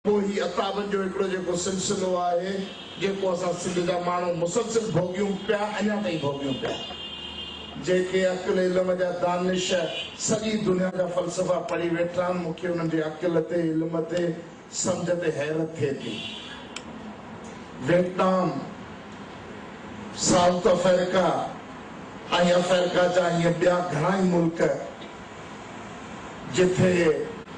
پوء هي عتابن جو هڪڙو جيڪو سلسلو آهي جيڪو اسان سنڌ جا ماڻهو مسلسل ڀوڳيون پيا اڃا تائين ڀوڳيون پيا جنهن کي عقل علم جا دانش سڄي دنيا جا فلسفا پڙهي ويٺا آهن مون کي انهن جي عقل تي علم تي سمجهه تي حيرت ٿئي ٿي ويٽنام سائوٿ افريڪا ۽ افريڪا جا ائين ٻيا گهڻا ئي ملڪ جتي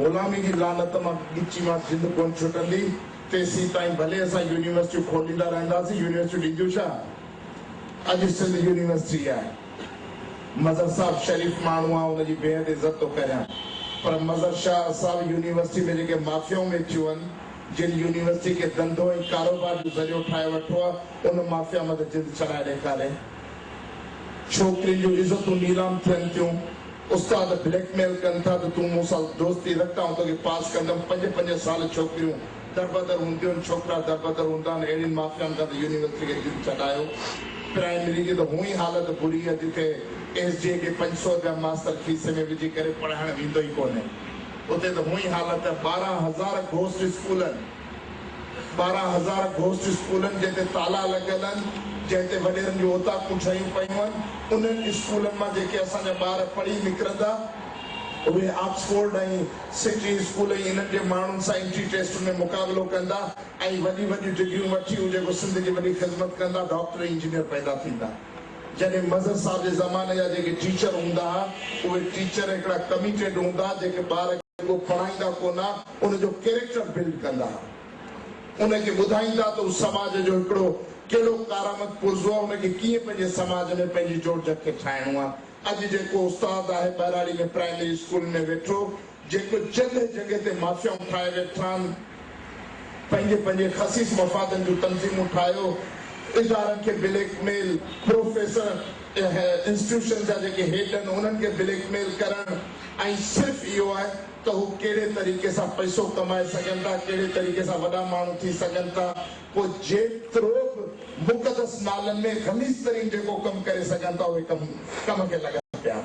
غلامي جي لعنت مان ڳچي مان جند ڪونه ڇٽندي، تيسيتائين ڀلي اسان يونيورسٽيون کوليندا رهنداسين، يونيورسٽيون ڏينديون ڇا؟ اڄ سنڌ يونيورسٽي آهي. مظهر صاحب شريف ماڻهو آ، ان جي بيحد عزت ٿو ڪريان، پر مظهر شاهه صاحب يونيورسٽي ۾ جيڪي مافيائون ويٺيون هن، جن يونيورسٽي کي ڌنڌو ۽ ڪاروبار جو ذريعو ٺاهي ورٺو آ، ان مافيا مٿي جند ڇڏائي ڏيکاري. ڇوڪرين جون عزتون نيلام ٿين ٿيون. استاد بليڪ ميل ڪن ٿا ته تون مون سان دوستي رک آئون توکي پاس ڪندم. پنج پنج سال ڇوڪريون دربدر هونديون آهن، ڇوڪرا دربدر هوندا آهن. اهڙين مافيائن کان ته يونيورسٽي کي دل ڇڏايو. پرائمري جي ته هونء ئي حالت بري آهي جتي ايس ڊي اي کي پنج سؤ رپيا ماستر کيسي ۾ وجهي ڪري پڙهائڻ ويندو ئي ڪونهي. اتي ته هونء ئي حالت آهي. ٻارهن هزار گهوسٽ اسڪولن. ٻارهن هزار گهوسٽ اسڪولن جنهن تي تالا لڳل هن، جنهن تي وڏيرن جون اوطاقون ٺهيون پيون هن، انهن اسڪولن مان جيڪي اسان جا ٻار پڙهي نڪرندا، اهي آڪسفورڊ ۽ سٽي اسڪول ۽ انهن جي ماڻهن سان انٽري ٽيسٽن ۾ مقابلو ڪندا ۽ وڏيون وڏيون ڊگريون وٺي اهي جيڪو سنڌ جي وڏي خدمت ڪندا، ڊاڪٽر ۽ انجنيئر پيدا ٿيندا. جڏهن مظهر صاحب جي زماني جا جيڪي ٽيچر هوندا ها، اهي ٽيچر هڪڙا ڪميٽيڊ هوندا ها، جيڪي ٻار کي رڳو پڙهائيندا ڪونه ها، ان جو ڪيريڪٽر بلڊ ڪندا، ان کي ٻڌائيندا ته هو سماج جو هڪڙو ڪهڙو ڪارآمد پرزو آهي، ان کي ڪيئن پنهنجي سماج ۾ پنهنجي جوڙجڪ کي ٺاهڻو آهي. اڄ جيڪو استاد آهي ٻهراڙي ۾ پرائمري اسڪول ۾ ويٺو، جيڪو جڳهه جڳهه تي مافيائون ٺاهي ويٺان، پنهنجي پنهنجي خسيس مفادن جون تنظيمون ٺاهيو، ادارن کي بليڪ ميل، پروفيسر انسٽيٽيوشن جا جيڪي هيڊ آهن انهن کي بليڪ ميل ڪرڻ ۽ صرف اهو آهي. ته هو ڪهڙي طريقي سان پئسو ڪمائي سگهن ٿا، ڪهڙي طريقي سان وڏا ماڻهو ٿي سگهن ٿا، پوء جيترو به مقدس نالن ۾ غليظ ترين جيڪو ڪم ڪري سگهن ٿا اهي ڪم ڪم کي لڳا پيا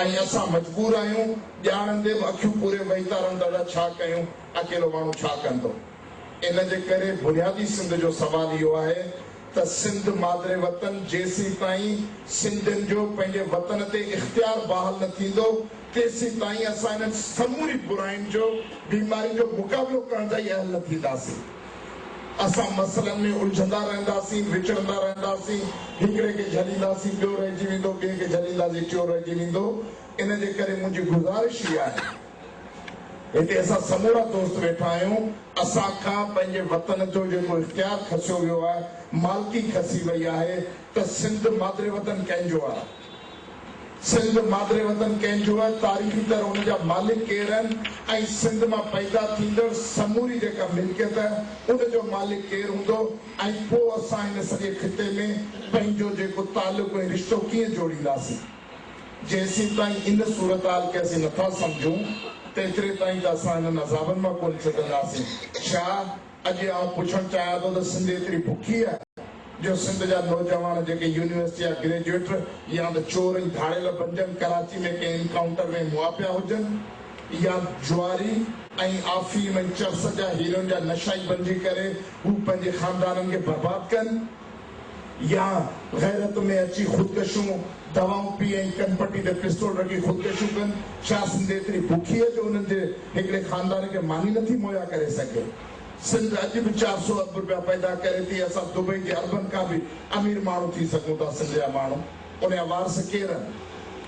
۽ اسان مجبور آهيون ڄاڻندي به اکيون پوري وهيتارن دادا ڇا ڪيون اڪيلو ماڻهو ڇا ڪندو ان جي ڪري بنيادي سنڌ جو سوال اهو آهي ته سنڌ مادر وطن جيسيتائين سنڌين جو پنهنجي وطن تي اختيار بحال نه ٿيندو تيسيتائين اسان انهن سموري براين جو بيمارين جو مقابلو ڪرڻ جا ئي اهل نه ٿينداسين اسان مسئلن ۾ الجهندا رهنداسين وچڙندا رهنداسين هڪڙي کي جهلينداسين ٻيو رهجي ويندو ٻئي کي جهلينداسين ٽيون رهجي ويندو ان جي ڪري منهنجي گذارش ئي آهي هتي اسان سمورا دوست ويٺا آهيون، اسان کان پنهنجي وطن جو جيڪو اختيار کسيو ويو آهي، مالڪي کسي وئي آهي ته سنڌ مادري وطن ڪنهن جو آهي؟ سنڌ مادري وطن ڪنهن جو آهي؟ تاريخي طرح ان جا مالڪ ڪير آهن ۽ سنڌ مان پيدا ٿيندڙ سموري جيڪا ملڪيت آهي ان جو مالڪ ڪير هوندو ۽ پوء اسان هن سڄي خطي ۾ پنهنجو جيڪو تعلق ۽ رشتو ڪيئن جوڙينداسين؟ جيسيتائين ان صورتحال کي اسين نٿا سمجهون، تيتري تائين ته اسان هنن عذابن مان ڪونه ڇٽنداسين. ڇا اڄ آئون پڇڻ چاهيان ٿو ته سنڌ ايتري بکي آهي جو سنڌ جا نوجوان جيڪي يونيورسٽي جا گريجوئيٽ يا ته چور ۽ ڌاڙيل بنجن، ڪراچي ۾ ڪنهن انڪائونٽر ۾ مئا پيا هجن يا جواري ۽ آفيم ۽ چرس جا هيروئن جا نشائي بنجي ڪري هو پنهنجي خاندانن کي برباد ڪن. يا غيرت ۾ اچي خودڪشيون، دوائون پي ۽ ڪنپٽي تي پستول رکي خودڪشيون ڪن، ڇا سنڌ ايتري بکي جو انهن جي هڪڙي خاندان کي ماني نٿي مهيا ڪري سگهي؟ سنڌ اڄ به چار سؤ ارب رپيا پيدا ڪري ٿي، اسان دبئي جي اربن کان به امير ماڻهو ٿي سگهون ٿا، سنڌ جا ماڻهو ان جا وارث ڪير آهن؟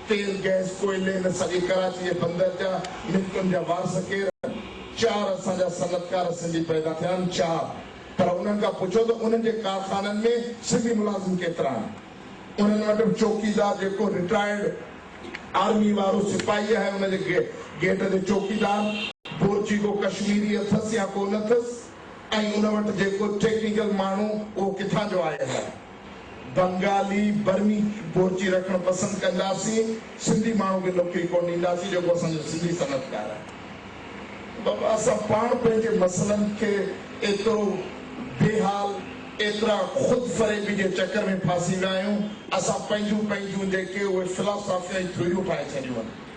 تيل، گئس، ڪوئلي ان سڄي ڪراچي جي بندر جا ملڪن جا وارث ڪير آهن؟ چار اسان جا صنعتڪار سنڌي پيدا ٿيا آهن، چار. پر انهن کان پڇو ته انهن جي ڪارخانن ۾ سنڌي ملازم ڪيترا آهن؟ انهن وٽ به چوڪيدار جيڪو رٽائرڊ آرمي وارو سپاهي آهي ان جي گيٽ تي چوڪيدار، بورچي ڪو ڪشميري اٿس يا ڪو نه اٿس ۽ ان وٽ جيڪو ٽيڪنيڪل ماڻهو اهو ڪٿان جو آيل آهي؟ بنگالي، برمي بورچي رکڻ پسند ڪنداسين، سنڌي ماڻهو کي نوڪري ڪونه ڏينداسين جيڪو اسان جو سنڌي صنعتڪار آهي. بابا اسان پاڻ پنهنجي مسئلن کي ايترو بي حال، ايترا خود فريبي جي چڪر ۾ ڦاسي ويا آهيون، اسان پنهنجون پنهنجون جيڪي اهي فلاسافيون ۽ ٿيوريون ٺاهي ڇڏيون آهن.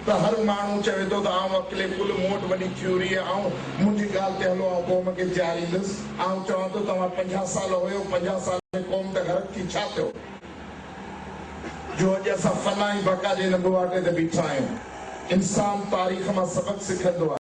ته هر ماڻهو چوي ٿو ته آئون عقل ڪل، مون وٽ وڏي ٿيوري آهي، آئون منهنجي ڳالهه تي هلو، آئون قوم کي جهاريندس، آئون چوان ٿو توهان پنجاهه سال هيو، پنجاهه سال ۾ قوم ته غرق ٿي ڇا ٿيو جو اڄ اسان فنا ۽ بقا جي ان ٻوهاٽي تي بيٺا آهيون. انسان تاريخ مان سبق سکندو آهي.